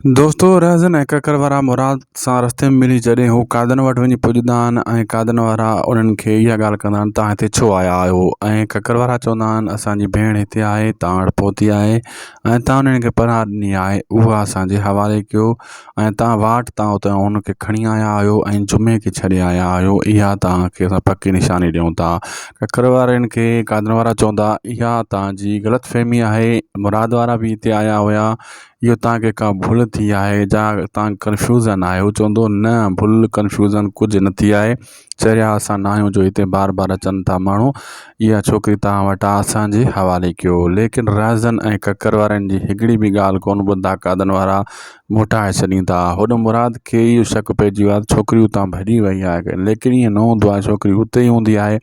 دوستو رهزن ۽ ڪڪر وارا مراد سان رستي ۾ ملي جڏهن هو قادن وٽ وڃي پڄندا آهن ۽ قادن وارا انهن کي اها ڳالهه ڪندا آهن تان هتي ڇو آيا آهيو ۽ ڪڪر وارا چوندا آهن اسان جي ڀيڻ هتي آهي تان وٽ پهتي آهي ۽ تان انهن کي پناهه ڏني آهي اها اسان جي حوالي ڪيو ۽ تان واٽ تان اتان ان کي کڻي آيا آهيو ۽ جمعي کي ڇڏي آيا آهيو اها تان کي اسان پڪي نشاني ڏيون ٿا ڪڪر وارن کي قادن وارا چوندا اها تان جي غلط فهمي آهي مراد وارا بي هتي آيا هيا اهو توهان کي ڪا ڀل ٿي آهي جا توهان ڪنفيوزن آهيو چوندو نه ڀل ڪنفيوزن ڪجهه نه ٿي آهي چريا اسان نه آهيون جو هتي بار بار اچن ٿا ماڻهو اها ڇوڪري توهان وٽ آ اسانجي حوالي ڪيو ليڪن رهزن ۽ ڪڪر وارن جي هڪڙي به ڳالهه ڪونه ٻڌندا قادن وارا موٽائي ڇڏيندا هوڏ مراد کي اهو شڪ پئجي ويو آ ته ڇوڪري اتان ڀڄي وئي آهي ليڪن اهي نه هوندو آهي ڇوڪري اتي هوندي آهي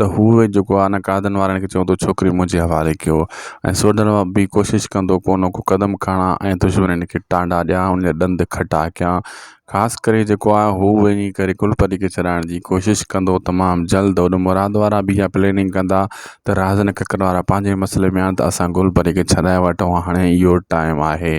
ته هو جيڪو آهي نه قائدن وارن کي چوندو ڇوڪري منهنجي حوالي ڪيو ۽ سوڍن مان به ڪوشش ڪندو ڪو نه ڪو قدم کڻان ۽ دشمنن کي ٽانڊا ڏيان انهن جا ڏند کٽا ڪيان خاص ڪري جيڪو آهي هو وڃي ڪري ڪلپتي کي ڇڏائڻ جي ڪوشش ڪندو تمام جلد هوڏي مراد وارا به اها پليننگ ڪندا ته رهزن ڪڪر وارا پنهنجي مسئلي ۾ آهن ته اسان ڪلپتي کي ڇڏائي وٺون هاڻي اهو ٽائيم آهي